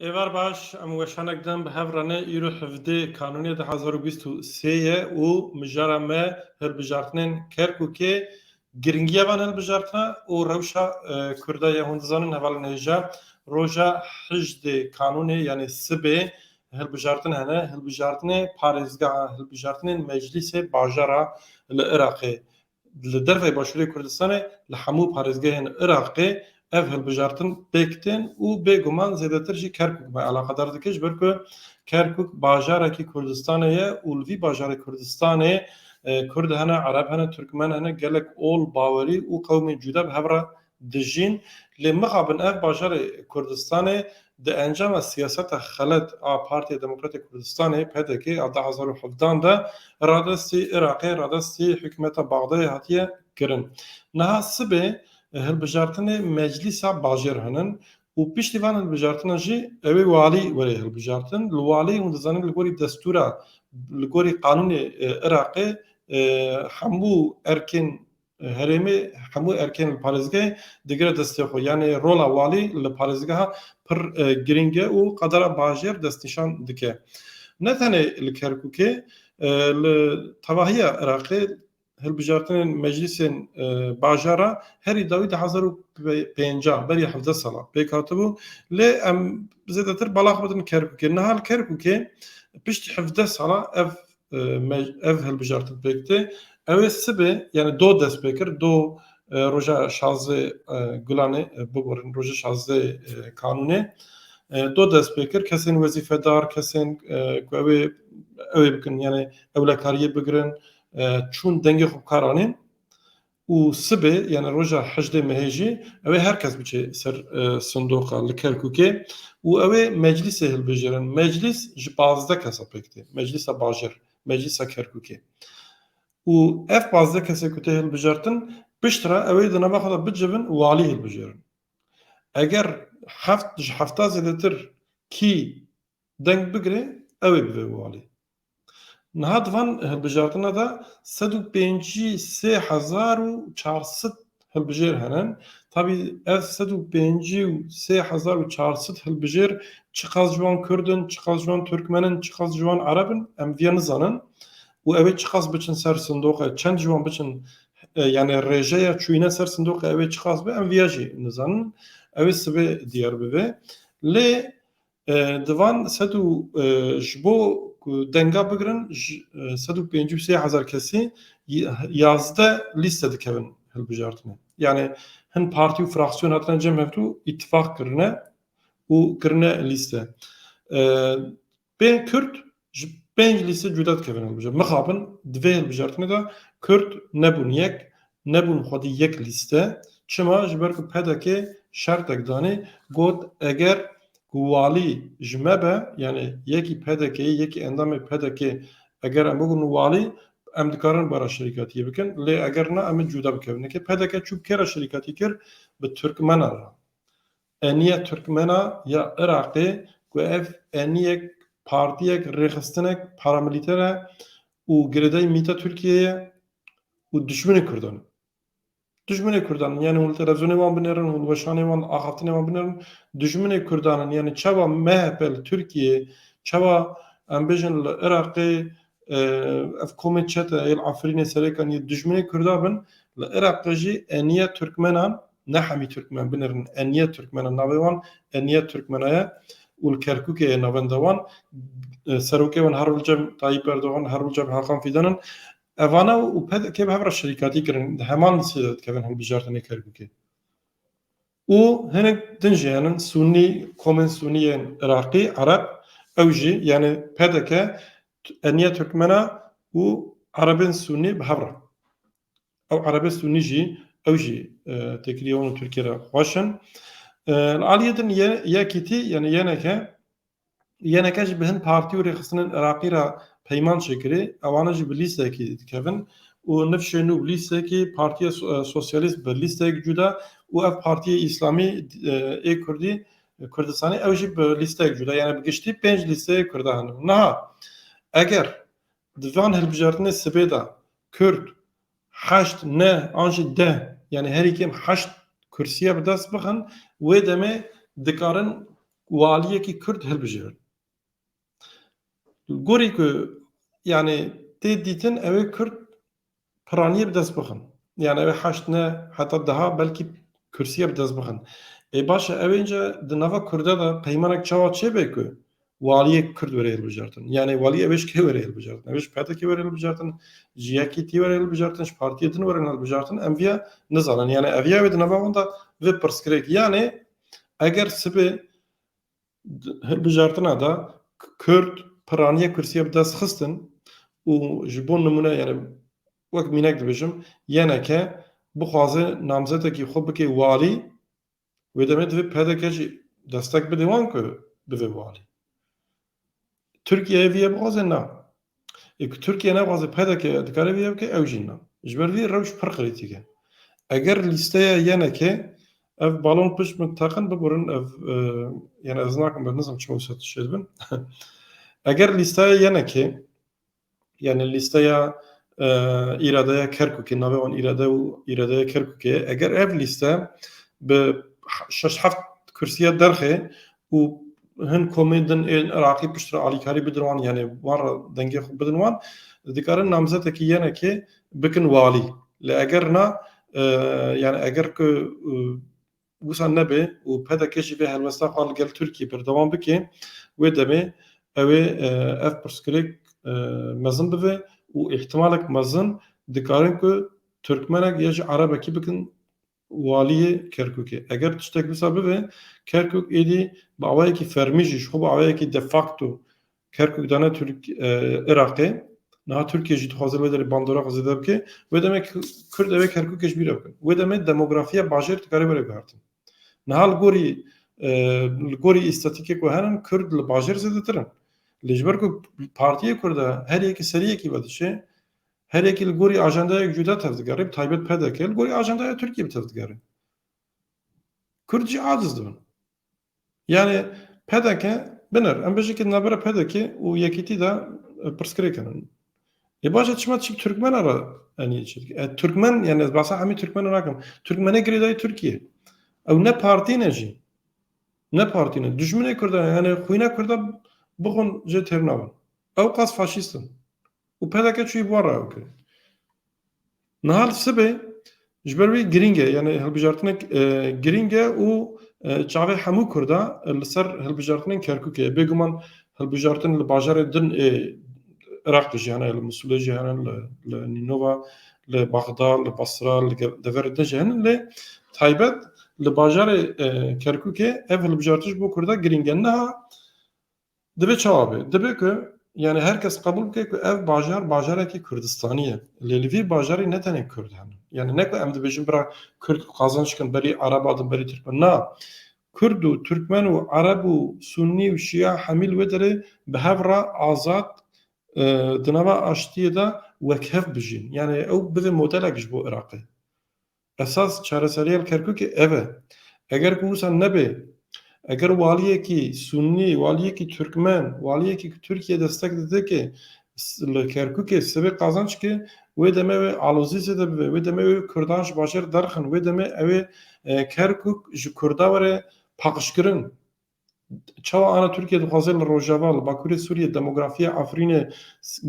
Êvar baş, em weşanek din bi hev re ne îro hevdê Kanûnê du hezar û bîst û sê ye û mijara me hilbijartinên Kerkûkê Giringiya van hilbijartina û rewşa Kurda ye hûn dizanin heval nêja roja hejdê kanûnê yanê sibê hilbijartin hene, hilbijartinê parêzgeha hilbijartinên meclîsê bajara li Iraqê li derveyê başûrê Kurdistanê li hemû parêzgehên Iraqê Ev hilbijartin pêk tên û bêguman zêdetir jî Kerkûk me alaqedar dike ji ber ku Kerkûk bajarekî Kurdistanê ye û li vî bajarê Kurdistanê Kurd hene, Ereb hene, Turkmen hene, gelek ol, bawerî û qewmên cuda bi hev re dijîn. Lê mixabin ev bajarê Kurdistanê di encama siyaseta xelet a Partiya Demokratê Kurdistanê, pdk, a du hezar û hevdan de radestî Iraqê, radestî hikûmeta Baxdayê hatiye kirin. Niha sibê Hilbijartinê meclîsa bajêr hinin û piştî van hilbijartinan jî ew ê walî were hilbijartin. Li walî hûn dizanin li gorî destûra, li gorî qanûnê Iraqê hemû erkên herêmê, hemû erkên li parêzgehê digire destê xwe. Yanî rola walî li parêzgeha pir girîng e û qadara bajêr destnîşan dike. Ne tenê li Kerkûkê, li tevahiya Iraqê hilbijartinên meclîsên bajar e herî dawî di hezar û pênca berî hevdeh sala pêk hatibû lê em zêdetir bala xwe bidin Kerkûkê. Niha li Kerkûkê piştî hevdeh sala ev ev hilbijartin pêk tê. Ew ê sibê yani do dest pê kir do roja şazdê gulanê bigorin roja şazdê kanûnê do dest pê kir kesên wezîfedar kesên ku ew ê ew ê bikin yani ewlekariyê bigirin Çûn dengê xwe bikar anê û sibê yanî roja hejdê mehê jî ew ê her kes biçe ser sindoqa li Kerkûkê û ew ê meclîsê hilbijêrin. Meclîs ji pazdeh kesa pêk tê. Meclîsa Bajêr, Meclîsa Kerkûkê û ev pazdeh kesê ku tê hilbijartin pişt re ew ê di nava xwe de bicivin û walî hilbijêrin. Eger heft ji hefta zêdetir kî deng bigire ew ê bibe walî. Niha di van hilbijartina de sed û pêncî sê hezar û çar sed hilbijêr hene. Tabî ev sed û pêncî û sê hezar û çar sed hilbijêr çiqas ji wan Kurd in, çiqas ji wan Turkmen in, çiqas ji wan Ereb in em vê nizanin û ew ê çiqas biçin ser sindoqê, çend ji wan biçin yanê rêjeya çûyîna ser sindoqê ew ê çiqas be em vê jî nizanin. Ew ê sibê diyar bibe. Lê Di van sed û ji bo ku denga bigirin sed û pêncî û sê hezar kesî yazdeh lîste dikevin hilbijartinê. Yanî hin partî û fraksiyon hatine cem hevdû îtîfaq kirine û kirine lîste. Bên Kurd ji pênc lîste cuda dikevin hilbijart. Mixabin di vê hilbijartinê de Kurd nebûn yek, nebûn xwedî yek lîste. Çima? Ji ber ku PDK şertek danê got eger ku walî ji me be yanê yekî PDK'yê yekî endamê PDK'ê eger em bibin walî em dikarin bara şerîkatiyê bikin lê eger na em ê cuda bikevin. Ke PDK çû bi kê re şerîkatî kir bi Turkmenan re. Eniye Turkmena ya Iraqê ku ev eniyek partiyek rêxistinek paramilîter e û girêdayî mîta Tirkiyeyê ye û dijminê Kurdan e. Dijminê Kurdan in yanî hûn li televîzyonê wan binêrin, hûn weşanê wan, axaftinê wan binêrin. Dijminê Kurdan in yanî çawa MHP li Tirkiyeyê, çawa em bêjin li Iraqê ev komên çete yê li Efrînê, Serêkan yê dijminê Kurdan bin, li Iraqê jî eniye Turkmenan Ne hemî Tirkmen binir in. Eniye Tirkmen e navê wan. Eniye Tirkmena ye û li Kerkûkê ye navenda wan. Serokê wan Herol Cem, Tayîp Erdogan, Herol Cem, Hakan Fîdan in. Evane û PDK'ê bi hev re şerîkatî kirin. Di heman lîstê de dikevin hilbijartinê Kerkûkê. Û hinek din jî hene Sûnî, komên Sûnî yên Iraqî, Ereb. Ew jî yanî PDK, Eniye Tirkmena û Erebên Sûnî bi hev re. Ew Erebe Sunî jî ew jî têkiliyê wan û Tirkiyê re xweş in. Li aliyê din YKT yanî YNK, YNK jî bi hin partî û rêxistinên Iraqî re peyman çêkirî, ewane jî bi lîstekî dikevin û nifşê nû bi lîstekî Partîya Sosyalîst bi lîstek cuda û ev Partîya Îslamî ê Kurdî Kurdistanê ew jî bi lîstek cuda yanî bi giştî pênc lîsteyê Kurda hene. Niha eger Di van hilbijartinê sibê de Kurd heşt, neh an jî deh yanî herî kêm heşt kursîye bi dest bixin wê demê dikarin walîyekî Kurd hilbijirin. Li gorî ku yanî tê dîtin ew ê Kurd piraniyê bi dest bixin. Yan ew ê heşt ne heta deha belkî kursiyê bi dest bixin. Ê baş e ew înce di nava Kurda de peymanek çawa çêbe ku waliyek Kurd were hilbijartin. Yanê waliyê ew ê ji kê were hilbijartin? Ew ê ji PDKê were hilbijartin, ji YKT were hilbijartin, ji partiyê din were hilbijartin em viya nizanin. Yanê ev ya wê di nava wan de vê pirsgirêk yanê eger sibê Di hilbijartina de Kurd piraniya kursiyê bi dest xistin û ji bo nimûne yani wek mînek dibêjim YNK bixwaze namzetekî xwe bike walî wê demê divê pdk jî destek bide wan ku bibe walî. Tirkiyeyê vî yê bixwaze na. Yê ku Tirkiye nexwaze pdk dikare vî yê bike ew jî na. Ji ber vî rewş pir qirîtîk e. Eger lîsteya YNKê ev balon pişt bin teqin biburin ev yani ez nakim ben nizam çima wisa tişê dibin. Eger lîsteya YNKê Yani lîsteya îradeya Kerkûkê navê wan îrade û îradeya Kerkûkê ye. Eger ev lîste bi şeş heft kursiya derxê û hin komên din ên Iraqî piştre alîkarî bidin wan yani wan re dengê xwe bidin wan dikarin namzetekî yenekê bikin walî. Lê eger na yani eger ku wisa nebe û pdk jî vê helwesta xwe li gel Tirkiyê berdewam bike, wê demê ew ê ev pirsgirêk mezin bibe û îhtimalek mezin dikarin ku Tirkmenek ya jî Erebekî bikin waliyê Kerkûkê. Eger tiştek wisa bibe, Kerkûk êdî bi awayekî fermî jî ji xwe bi awayekî de facto Kerkûk dane Iraqê. Niha Tirkiye jî dixwaze li wê derê bandora xwe zêde bike. Wê demê Kurd ew ê Kerkûkê ji bîr re bikin. Wê demê demografiya bajêr dikare were guhertin. Niha li gorî li gorî îstatîkê ku herin Kurd li bajêr zêdetir in. Lê ji ber ku partiyê Kurd e her yekî serî yekî vedişê, her yekî li gorî ajendayek cuda tevdigerê, bi taybet PDK li gorî ajendaya Tirkiyê bi tevdigerê. Kurd jî aciz dibin. Yanî pdk binir. Em bêjî ke di navbera pdk û Yekîtî de pirsgirêk hene. Ê baş e çima çi Turkmena re enî çi dike? Turkmen yanî ez behsa hemî Turkmena nakim. Turkmenê girêdayî Tirkiyeyê. Ew ne partî ne jî. Ne partî ne. Dijminê Kurdan e. Yanî xwîna Kurda bixwin jê têr nabin. Ew qas faşîst in. û peleke çûyî bi wan re ew kirin. Niha li sibê ji ber wî girîng e yanê hilbijartinek girîng e û çavê hemû Kurd e li ser hilbijartinên Kerkûkê ye. Bêguman hilbijartin li bajarê din ê Iraq de jî hene li Misulê jî hene li Nînova li Bexda li Basra li deverê din jî hene lê taybet li bajarê Kerkûkê ev hilbijartin ji bo Kurda girîng e. Niha Dibe çawa be? Dibe ku yanî her kes qebûl bike ku ev bajar bajarekî Kurdistanî ye. Lê li vî bajarî ne tenê Kurd hene. Yanî ne ku em dibêjin bira Kurd qazanc bikin berî Ereban din berî Tirkmen. Na, Kurd û Tirkmen û Ereb û Sunnî û Şîa hemî li wê derê bi hev re azad di nava aştiyê de wekhev bijîn. Yanî ew bibe modelek ji bo Iraqê. Esas çareseriyên Kerkûkê ev e. Eger ku wisa nebe, eger waliyekî Sunnî, waliyekî Turkmen, waliyekî ku Tirkiyeyê destek didike li Kerkûkê sibê qazanc ke, wê demê wê alozî zêde bibe, wê demê wê Kurdan ji bajêr derxin, wê demê ew ê Kerkûk ji Kurda were paxşkirin. Çawa ara Tirkiye dixwaze li rojava, li bakurê Sûriyê demografiya Efrînê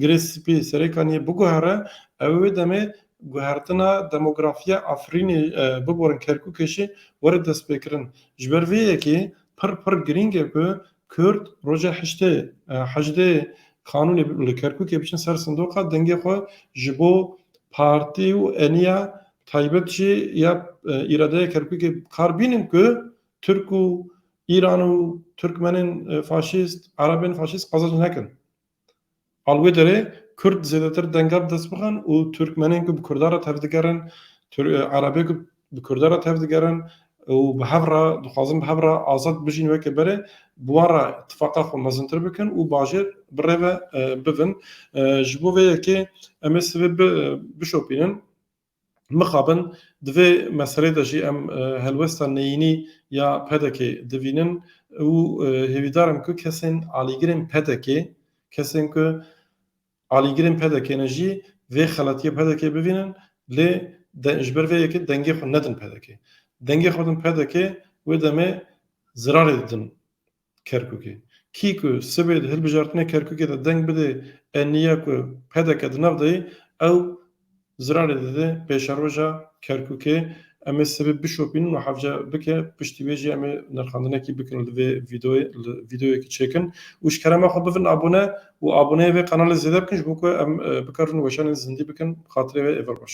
girê spî Serêkaniyê biguhere, ew ê wê demê guhertina demografiya Efrînê biborin Kerkûkê jî were destpêkirin. Ji ber vê yekê pir pir girîng e ku Kurd roja heştê hejdê Kanûnê li Kerkûkê biçin ser sindoqa dengê xwe ji bo partî û eniya taybet jî ya îradeya Kerkûkê bi kar bînin ku Tirk û Îran û Tirkmenên faşîst, Erebên faşîst qezenc nekin. A li wê derê Kurd zêdetir denga bi dest bixin û Tirkmenên ku bi Kurdan re tev digerin, Erebê ku bi Kurdan re tev digerin û bi hev re dixwazin bi hev re azad bijîn weke berê bi wan re îtîfaqa xwe mezintir bikin û bajêr bi rê ve bibin. Ji bo vê yekê em ê sivê bişopînin. Mixabin di vê meselê de jî em helwesta neyînî ya PDK'ê divînin û hêvîdar im ku kesên alîgirên PDK'ê, kesên ku alîgirên PDK'ê ne jî vê xeletiyê PDK'ê bivînin lê ji ber vê yekê dengê xwe nedin PDK'ê. Dengê xwe bidin PDK'ê wê demê zirarê didin Kerkûkê. Kî ku sibê di hilbijartinê Kerkûkê de deng bidê NNY'ya ku pdk di nav de yê, ew ziranê dide pêşeroja Kerkûkê. Em ê sibê bişopînin û hevce bike, piştî wê jî em ê nirxandinekî bikin li vê vîdoyê, li vîdoyekî çêkin û ji kerema xwe bibin abone û aboneyê vê qenalê zêde bikin ji bo ku em bikarin weşanên zindî bikin bi xatirê wê êvar baş.